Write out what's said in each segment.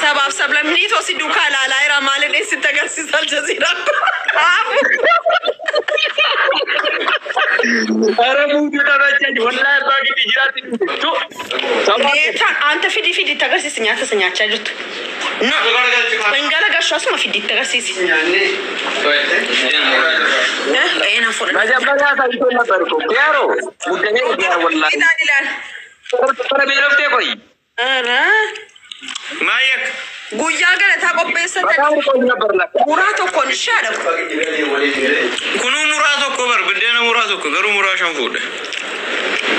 Sabaaf sablammii too si duukaa ilaalaa jira maal inni sitti agarsiisa aljaziiraa kaafu. Ara muutu taphachaa jiru. Wallaahi abbaa gidi jiraatti dhufe. Tu. Sabaa. Deeta anta fidi fidi itti agarsiisi nyaata isa nyaachaa jirtu. Na hin garagashu asuma fidi itti agarsiisi. Eh, na fudha. Majabbataa isaa itoo na barko. Yaaroo. Guddamee dhugaa wallaahi. Ilaal ilaal. Bara beeloftee qoyi. Maayii akka. Guyyaa galataa qopheessatan Bataa urgoon na barlata. muraa tokkoon ishee adhamu. Kunuu muraa tokko bar biddeena muraa tokko garuu muraa shan fuudhe.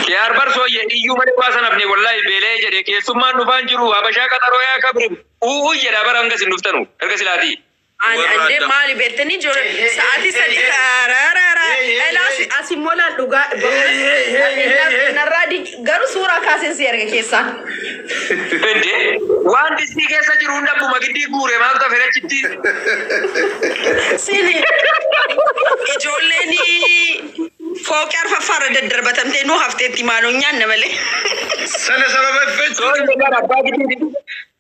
Kiyaar bar sooyye iyyuu malee waa sanafne wallahi beelee jedhe keessummaan dhufaan jiru habashaa qaxaroo yaa kabrim u'uu jedha bar hanga isin dhuftanu erga silaatii. An ande maali beektanii jore sa'aatii sadii raarara elaa as immoo laal dhugaa dhugaa narraa di garuu suuraa kaaseen si erga keessaa. Ende waan distii keessa jiru hunda abbuma giddii guure maal tafe rachitti. Sili ijoolleen fooqii arfaffaarra daddarbatamtee nu hafteetti maaloo nyaanna malee. Sana sababa Soo effechuun. inni gara abbaa giddii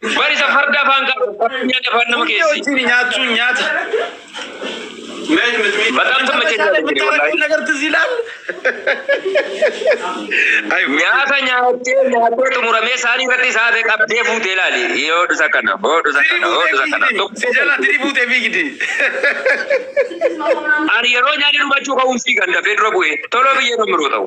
Bari isa farda afaan qaba. Nyaata afaan nama Hundee keessi. wajjin nyaachuun nyaata. Bataam Isa taphachaa bashaala jira bittaa wallaahi. rakkin agartu si ilaal. Ay, Nyaata nyaattee nyaattee xumuramee isaanii irratti isaa ta'e qabdee fuutee ilaali. Yoo dhusa kana, yoo dhusa Dirii kana, yoo buutee dhusa kana. fiigdi. Si jala dirii buutee fiigdi. Ani yeroo nyaanni dhumachuu ka'uun fiigan dafee dura bu'ee toloo biyyee kan biroo ta'u.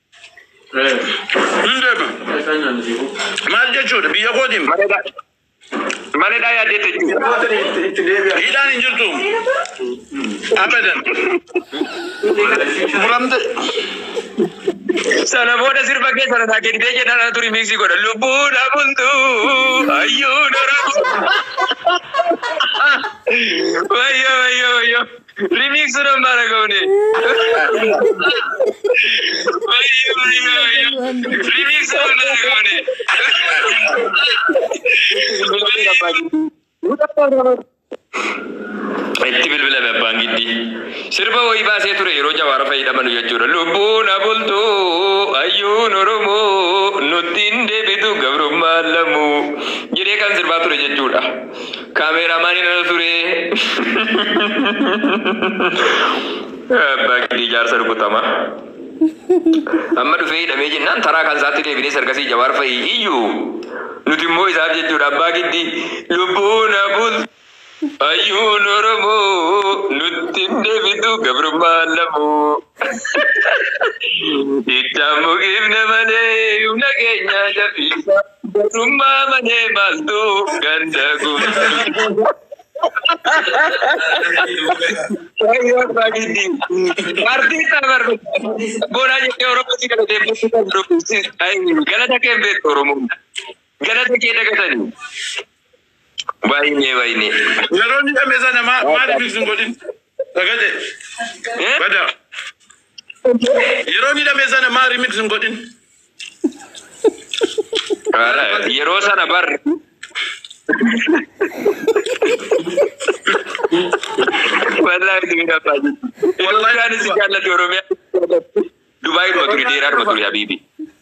Hin deema. Maal jechuudha biyya kootiin Mana dhaa yaadee jechuudha. hidhaan hin jirtu abadan furamte Sana booda sirba kee sana naa gegdee jedha na turi miiksii godha. Lubbuu dhabuntu ayyuu darabu. Wayyo wayyo wayyo. Remix sudah marah kau ni. Bayu, bayu, bayu. Remix sudah marah kau ni. Itti bilbila abbaan giddii. Sirba wayii baasee ture yeroo jawaara fayyadamanu jechuudha. Lubbuun abultuu ayyuun oromoo nutti hin deebitu gabrummaan lamuu jedhee kan sirbaa ture jechuudha. Kaameeraamaaniin ana ture. Abbaa gidii jaarsa rukutama. Amma dhufee hidhamee jennaan taraa kan isaatti deebinee sarkasii jawaar fa'i iyyuu nuti immoo isaaf jechuudha abbaa gidii lubbuu na bul ayyuun oromoo nutti hin deebitu gabrummaa lamoo. Ittaan mukiifne malee humna keenya jabeessa. Gatummaa malee maaltu ganda guutuu. Wayyoo abbaa giddii. Paartii isaa barru. Boonaa jettee Oromoo si galatee bultii kan dubbisi. Galata kee hin beektu Oromoo. Galata kee dagatanii. Waayinee waayinee. Yeroo ni dhamesa nama maaliif hin godhin? Sagade. Bada. Yeroo ni dame sana maa remix hin godhin. Yeroo sana bar. Wallahi ni dama. Wallahi ni si jaallatu Oromiyaa. Dubai duma turi deeraa duma turi habibi.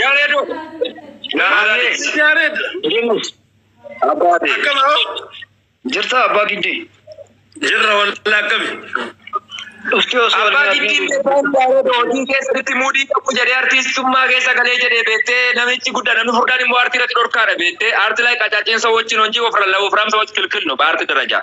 Yaredo. Naaree. Yaareed. Jenus. Abbaate. Akkam hoo? Jirtaa abbaa giddii. Jirra walla akkami? Dhuftee osoo Abbaa waliin Giddiin haasofnu. beekaan Yaaredo hojii keessatti muudii qabu jedhee artiistummaa keessa galee jedhee beektee namichi guddaa namni furdaan immoo aartii irratti dhorkaadha beektee aartii laayii qacaaciinsa wajjin hojii ofirra lawufraamsa wajjin kilkilnu baarti darajaa.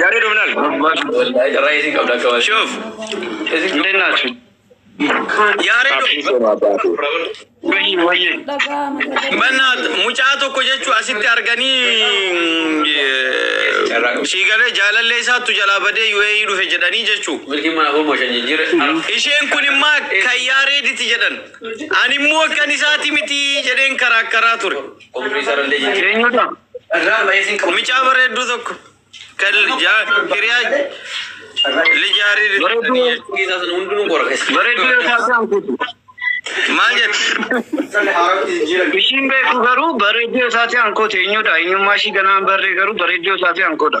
Yare Domnal. Raisin kau dah kau. Shuf. Mungkin nak. Yare Wayii wayii. dhaga'ama sagalee Bannaat mucaa tokko jechuu asitti arganii sii galee jaalallee isaattu jalaa badee UAE dhufe jedhanii jechuu. Milki mana kau mau janji jira. Isheen kun immoo kan yaareediti jedhan. Ani immoo kan isaati miti jedheen karaa karaa ture. Eenyudha? Mucaa bareedduu tokko kan jaa- hiriyaa lijaarii Bareedduu yoo taate hankuutu. maal jette? Ishiin beeku garuu bareedduu yoo taate hankoota eenyudha? Eenyummaa ishii ganaan barree garuu bareedduu yoo taate hankoodha.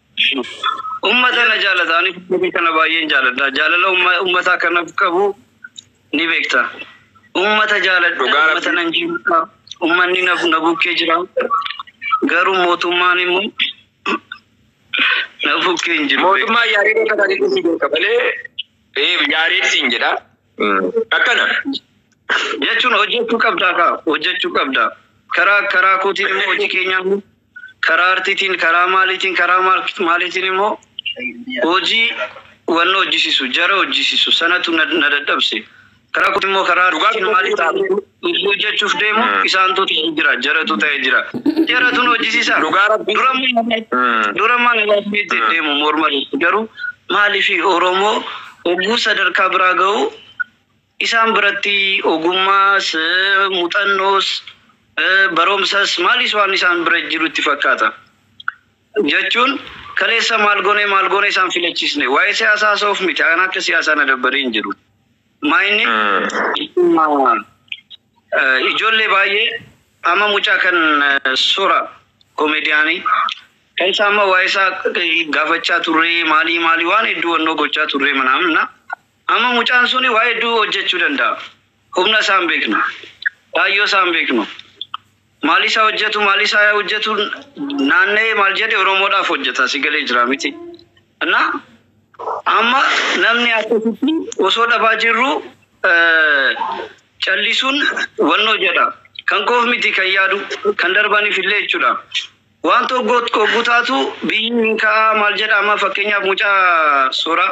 Ummata na jaalata ani biyya kana baay'een jaaladha jaalala ummataa kanaf qabu ni beekta ummata jaaladha ummata nan jaalata ummanni na bukkee jira garuu mootummaan immoo na bukkee hin jiru mootummaa yaadee kana dhiisuu beeka malee ee yaadee siin jedha akkana jechuun hojjechuu qabdaa kaa hojjechuu qabdaa karaa karaa kootiin immoo hojii keenyaa karaa artiitiin, karaa maaliitiin, karaa maaliitiin immoo hojii wanna hojjisiisu, jara hojjisiisu sanatu na na dadhabse. Karaa kootiin immoo karaa Dhugaa artiitiin maalii dhugaa ta'a? dhugaa Hojii hojjechuuf deemu Mm. isaantu ta'ee jira, jaratu ta'ee jira. Jaratu nu hojjisiisa. dhugaa rabbi Dura Mm. dura mana laafni itti Mm. deemu morma irratti garuu maaliif Oromoo oguu sadarkaa biraa ga'u Isaan biratti ogummaas, muxannoos, baromsas maalis waan isaan bira jiru itti fakkaata. Jachuun kaleessa maal gonee maal goone isaan filachisne. Waa'ee siyaasaa haasa'uuf miti ana akka siyaasaa na dabbaree hin jiru. Maayinni ijollee baay'ee amma mucaa kan sora komediyaanii kan isaa amma waa'ee isaa gaafachaa turree maalii maalii waan hedduu wannoo gochaa turree manaamna. Amma mucaan suni waa hedduu hojjachuu danda'a. Humna isaa hin beeknu. Kaayyoo isaa hin beeknu. Maalii isaa hojjatu, maalii isaa hojjatu naanna'ee maal jedhe Oromoodhaaf hojjata. Si galee jira miti. Anna amma namni akkasitti osoo dhabaa jirru callisuun wannoo jedha. Kan koof miti kan yaadu kan darbaniif illee jechuudha. Waan tokko oggu taatu biyyi hin ka'aa maal jedha amma fakkeenyaaf mucaa suuraa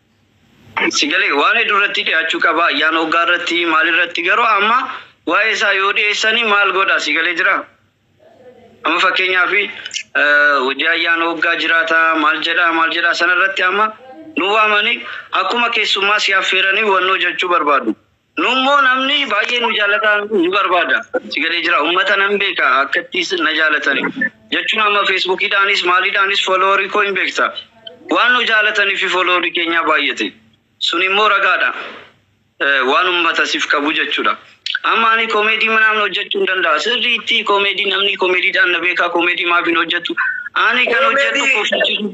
Si galee? Waan heddu irratti dhiyaachuu qaba ayyaana waggaa irratti maal irratti garuu amma waa'ee isaa yoo dhiyeessani maal godha si galee jira? Amma fakkeenyaaf hojii ayyaana waggaa jiraata maal jedha maal jedha sana irratti amma nu waamani akkuma keessummaa si affeeranii wannoo jechuu barbaadu. Nummoo namni baay'ee nu jaalataa nu barbaada. Si galee jira ummata nan beeka akkatti na jaalatani. Jechuun amma feesbuukiidhaanis maaliidhaanis fooloowarii koo hin beekta. Waan nu jaalataniifi fooloowarii keenyaa baay'ate. Sun immoo ragaadha. Waan ummata sif qabu jechuudha. Amma ani koomeedii manaan hojjechuu hin danda'a. Sirriitti koomeedii namni koomeediidhaan na beekaa koomeedii maaf hin hojjettu? Ani kan hojjedhu kofalchiisuuf.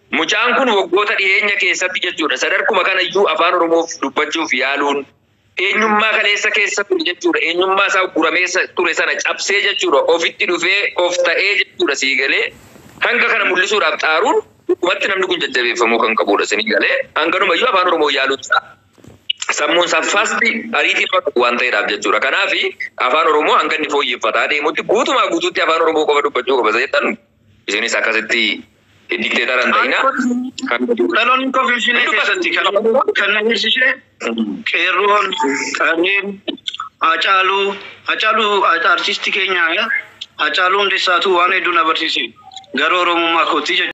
Mucaan kun waggoota dhiheenya keessatti jechuudha sadarkuma kana iyyuu afaan oromoof dubbachuuf yaaluun eenyummaa kaleessa keessa ture jechuudha eenyummaa isaa guramee sa- ture sana cabsee jechuudha ofitti dhufee of ta'ee jechuudha sii galee hanga kana mul'isuudhaaf xaaruun dhugumatti namni kun jajjabeeffamuu kan qabudha sii galee hanganuma iyyuu afaan oromoo yaaluun isaa sammuun saffaasti ariitii nama qabu waan ta'eedhaaf jechuudha. Kanaaf afaan Oromoo hanga inni fooyyeffataa deemutti guutumaa guutuutti afaan Oromoo qofa dubbachuu qaba seetan isinis akkasitti Dikteetara hin ta'ina. Dhaloonni koo Finfinnee keessatti kan kan na hirsisee qeerroon, qarreen, Hacaaluu, Hacaaluu artiistii keenya Hacaaluu Hundeessaatuu waan hedduu na barsiise gara Oromummaa kootti jechuudha.